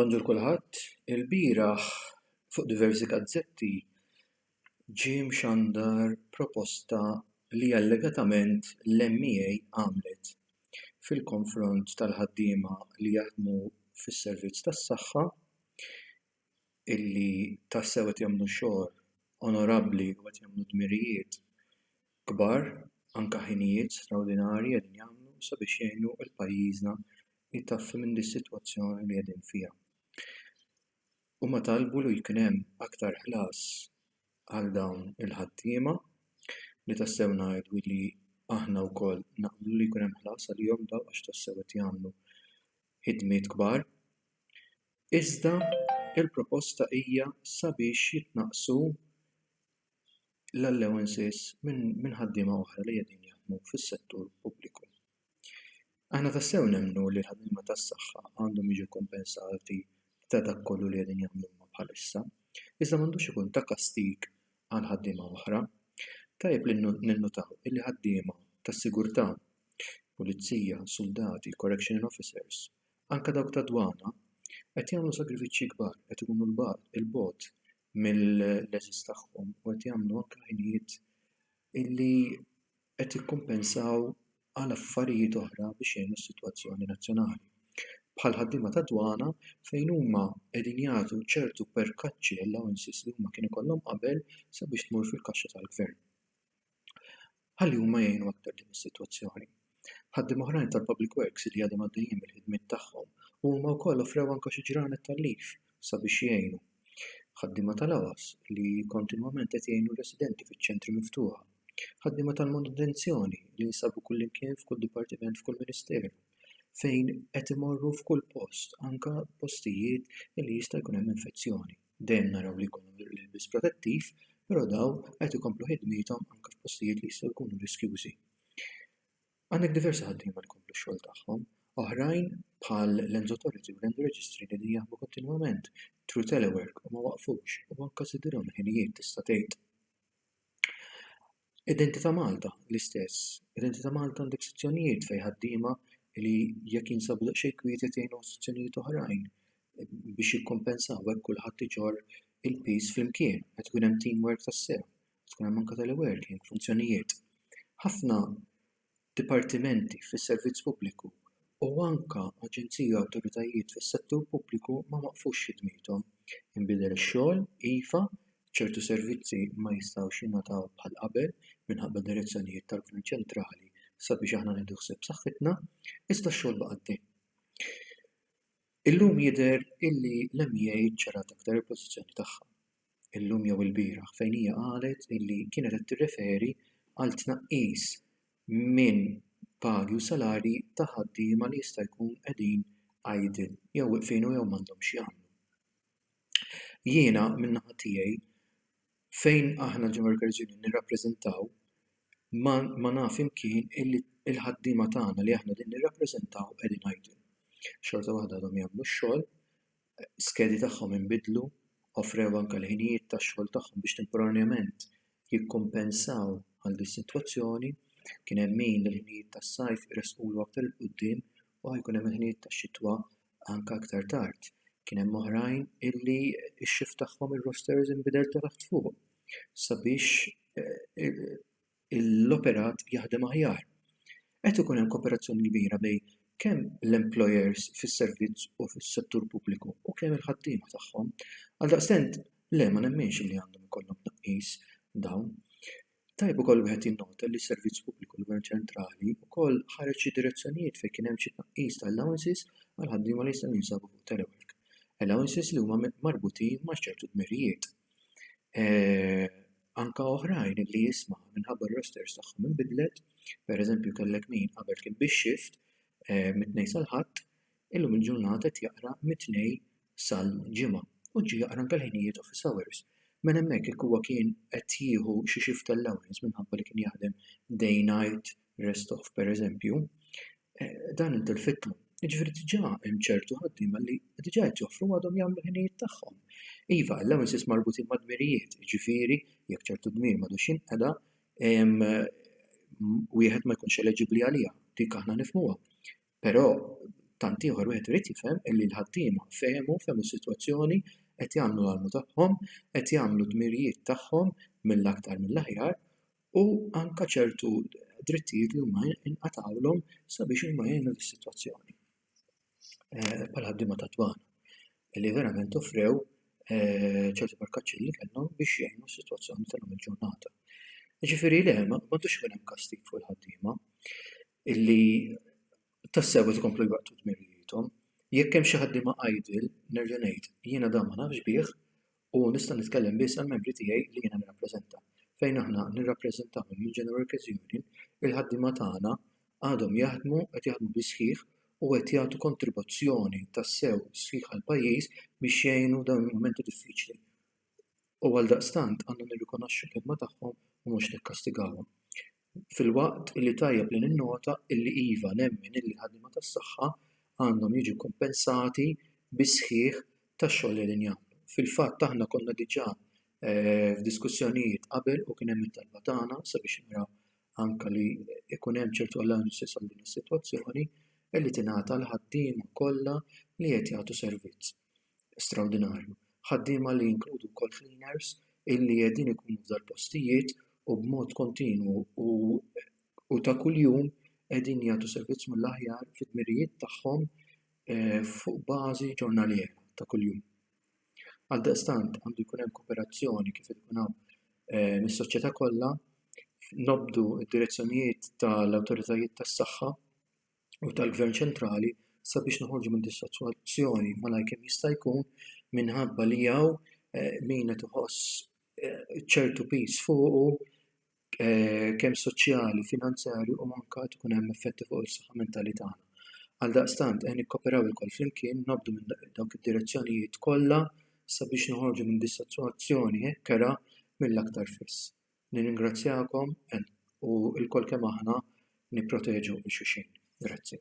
Bonġur kulħadd, ilbieraħ fuq diversi gazzetti ġie mxandar proposta li allegatament l-MEA għamlet fil-konfront tal-ħaddiema li jaħdmu fis-servizz tas-saħħa. illi tassew qed jagħmlu xogħol onorabbli u qed jagħmlu dmirijiet kbar, anke ħinijiet straordinarji qegħdin jagħmlu sabiex jgħinu lil pajjiżna jtaffi minn dis-sitwazzjoni li qegħdin fiha. Huma talbu li jkun hemm aktar ħlas għal dawn il-ħaddiema li tassew ngħidu li aħna wkoll naqblu li jkun hemm ħlas għalihom dawn għax tassew qed jagħmlu ħidmiet kbar. Iżda l-proposta hija sabiex jitnaqqsu l-allowances minn ħaddiema oħra li qegħdin jaħdmu fis-settur pubbliku. Aħna tassew nemmnu li l-ħaddiema tas-saħħa għandhom jiġu kkumpensati ta' dak kollu li qegħdin jagħmlu huma bħalissa, iżda m'għandux ikun ta' kastig għal ħaddiema oħra. Tajjeb li ninnutaw li ħaddiema tas-sigurtà, pulizija, suldati, correctional officers, anke dawk tad-dwana, qed jagħmlu sagrifiċċji kbar, qed ikunu 'l bogħod, 'il bogħod mill-għeżież tagħhom u qed jagħmlu anke ħinijiet illi qed jikkumpensaw għal affarijiet oħra biex jgħinu s-sitwazzjoni nazzjonali. Bħall-ħaddiema tad-dwana fejn huma qegħdin jagħtu ċertu perkaċċi, allowances, li huma kienu jkollhom qabel sabiex tmur fil-kaxxa tal-gvern. ħalli huma jgħinu aktar din is-sitwazzjoni. Ħaddiema oħrajn tal-Public Works li għadhom għaddejjin mill-ħidmiet tagħhom u huma wkoll offrew anke xi ġranet tal-leaf sabiex jgħinu. Ħaddiema tal-AWAS li kontinwament qed jgħinu r-residenti fiċ-ċentri miftuħa. Ħaddiema tal-manutenzjoni li jinsabu kullimkien f'kull dipartiment f'kull ministeru fejn qed imorru f'kull post anke postijiet li jista' jkun hemm infezzjoni. Dejjem naraw li jkollhom l-ilbies protettiv, però dawn qed ikomplu ħidmiethom anke f'postijiet li jistgħu jkunu riskjużi. Għandek diversi ħaddiema li jkomplu x-xogħol tagħhom, oħrajn bħal Lenzo Torres u Renzo Registri qegħdin jaħdmu kontinwament through telework u ma waqfux u anke żidilhom il-ħinijiet tista' tgħid. Identità Malta, l-istess. Identità Malta għandek sezzjonijiet fejn ħaddiema li jekk jinsabu daqsxejn kwieti qed jgħinuhom sezzjonijiet oħrajn biex jikkumpensaw hekk kulħadd iġorr il-piż flimkien, qed ikun hemm teamwork tassew, qed ikun hemm anke teleworking, funzjonijiet. Ħafna dipartimenti fis-servizz pubbliku u anke aġenziji u awtoritajiet fis-settur pubbliku ma waqqfux ħidmithom inbidel ix-xogħol iva ċertu servizzi ma jistgħux jingħataw bħal qabel minħabba d-direzzjonijiet tal-gvern ċentrali sabiex aħna nieħdu ħsieb saħħitna iżda x-xogħol baqa' għaddej Illum jidher illi l-MEA ċċarat aktar il-pożizzjoni tagħha. Illum jew ilbieraħ fejn hija qalet illi kienet qed tirreferi għal tnaqqis minn pagi u salarji ta' ħaddiema li jista' jkun qegħdin idle jew weqfin u jew m'għandhom x'jagħmlu. Jiena min-naħa tiegħi fejn aħna ġewwa l-Credit Union nirrappreżentaw ma ma naf imkien illi l-ħaddiema tagħna li aħna din nirrappreżentaw qegħdin idle. Xorta waħda għadhom jagħmlu x-xogħol, skedi tagħhom inbidlu, offrew anke l-ħinijiet tax-xogħol tagħhom biex temporanjament jikkumpensaw għal dis-sitwazzjoni, kien hemm min il-ħinijiet tas-sajf iressqulu aktar 'il quddiem u ħajkun hemm il-ħinijiet tax-xitwa anke aktar tard kien hemm oħrajn illi x-shift tagħhom ir-rosters inbidel ta' taħt fuq sabiex l-operat jaħdem aħjar. Qed ikun hemm kooperazzjoni kbira bejn kemm l-employers fis-servizz u fis-settur pubbliku u kemm il-ħaddiema tagħhom. Għaldaqstant, le ma nemminx li għandhom ikollhom tnaqqis dawn. Tajjeb ukoll wieħed jinnota li s-Servizz Pubbliku tal-Gvern Ċentrali wkoll ħareġ xi direzzjonijiet fejn kien hemm xi tnaqqis ta' allowances għal ħaddiema li jistgħu jinsabu fuq telework. Allowances li huma marbutin ma' ċertu dmirijiet. Anke oħrajn li jisma' minħabba r-rosters tagħhom inbidlet, pereżempju kellek min qabel kien bix-xift mit-Tnejn sal-Ħadd, illum il-ġurnata qed jaqra mit-Tnejn sal-Ġimgħa u ġie jaqra anke l-ħinijiet office hours. Mela hemmhekk jekk huwa kien qed jieħu xi shift allowance minħabba li kien jaħdem day night rest off pereżempju, dan intilfitlu. Jiġifieri diġà hemm ċertu ħaddiema li diġà qed joffru għadhom jagħmlu ħinijiet tagħhom. Iva, allowances marbutin ma' dmirijiet, jiġifieri jekk ċertu dmir m'għadux jinqeda, wieħed ma jkunx eleġibbli għaliha, dik aħna nifhmuha. Però tant ieħor wieħed irid jifhem illi l-ħaddiema fehmu, fehmu s-sitwazzjoni, qed jagħmlu l-almu tagħhom, qed jagħmlu d-dmirijiet tagħhom mill-aktar mill-aħjar u anke ċertu drittijiet li huma nqatgħulhom sabiex huma jgħinu lis-sitwazzjoni. Bħall-ħaddiema tad-dwana li verament offrew ċertu barkaċċi li kellhom biex jgħinu s-sitwazzjoni tal-lum il-ġurnata. Jiġifieri le, m'għandux ikun hemm kastig fuq il-ħaddiema. illi tassew qed ikomplu jwettqu dmirijiethom. Jekk hemm xi ħaddiema idle, nerġa' ngħid, jiena dan ma nafx bih u nista' nitkellem biss għall-membri tiegħi li jiena nirrappreżenta. Fejn aħna nirrappreżentahom mill-General Workers Union, il-ħaddiema tagħna għadhom jaħdmu, qed jaħdmu bis-sħiħ u qed jagħtu kontribuzzjoni tassew sħiħ għall-pajjiż biex jgħinu f'dawn il-mumenti diffiċli. u għaldaqstant għandna nirrikonoxxu l-ħidma tagħhom u mhux nikkastigawhom. Filwaqt li tajjeb li ninnota li iva nemmen li l-ħaddiema tas-saħħa għandhom jiġu kkumpensati bis-sħiħ tax-xogħol li qegħdin jagħmlu. Fil-fatt aħna konna diġà f'diskussjonijiet qabel u kien hemm it-talba tagħna sabiex naraw anke li jkun hemm ċertu allowances għal din is-sitwazzjoni li tingħata l-ħaddiema kollha li qed jagħtu servizz. straordinarju, ħaddiema li jinkludu wkoll cleaners illi qegħdin ikunu f'dal-postijiet u b'mod kontinwu u u ta' kuljum qegħdin jagħtu servizz mill-aħjar fid-dmirijiet tagħhom fuq bażi ġurnaliera ta' kuljum. Għaldaqstant għandu jkun hemm kooperazzjoni kif qed ikun hawn mis-soċjetà kollha, nobdu d-direzzjonijiet tal-awtoritajiet tas-saħħa, u tal-gvern ċentrali sabiex noħorġu minn dis-sitwazzjoni malajr kemm jista' jkun minħabba li hawn min qed iħoss ċertu piż fuqu kemm soċjali, finanzjarju u anke qed ikun hemm effetti fuq is-saħħa mentali tagħna. Għaldaqstant ejja nikkooperaw ilkoll flimkien, naqbdu minn dawk id-direzzjonijiet kollha sabiex noħorġu minn dis-sitwazzjoni hekk kerha mill-aktar fis. Nirringrazzjakom u lkoll kemm aħna nipproteġu 'l xulxin. Grazzi.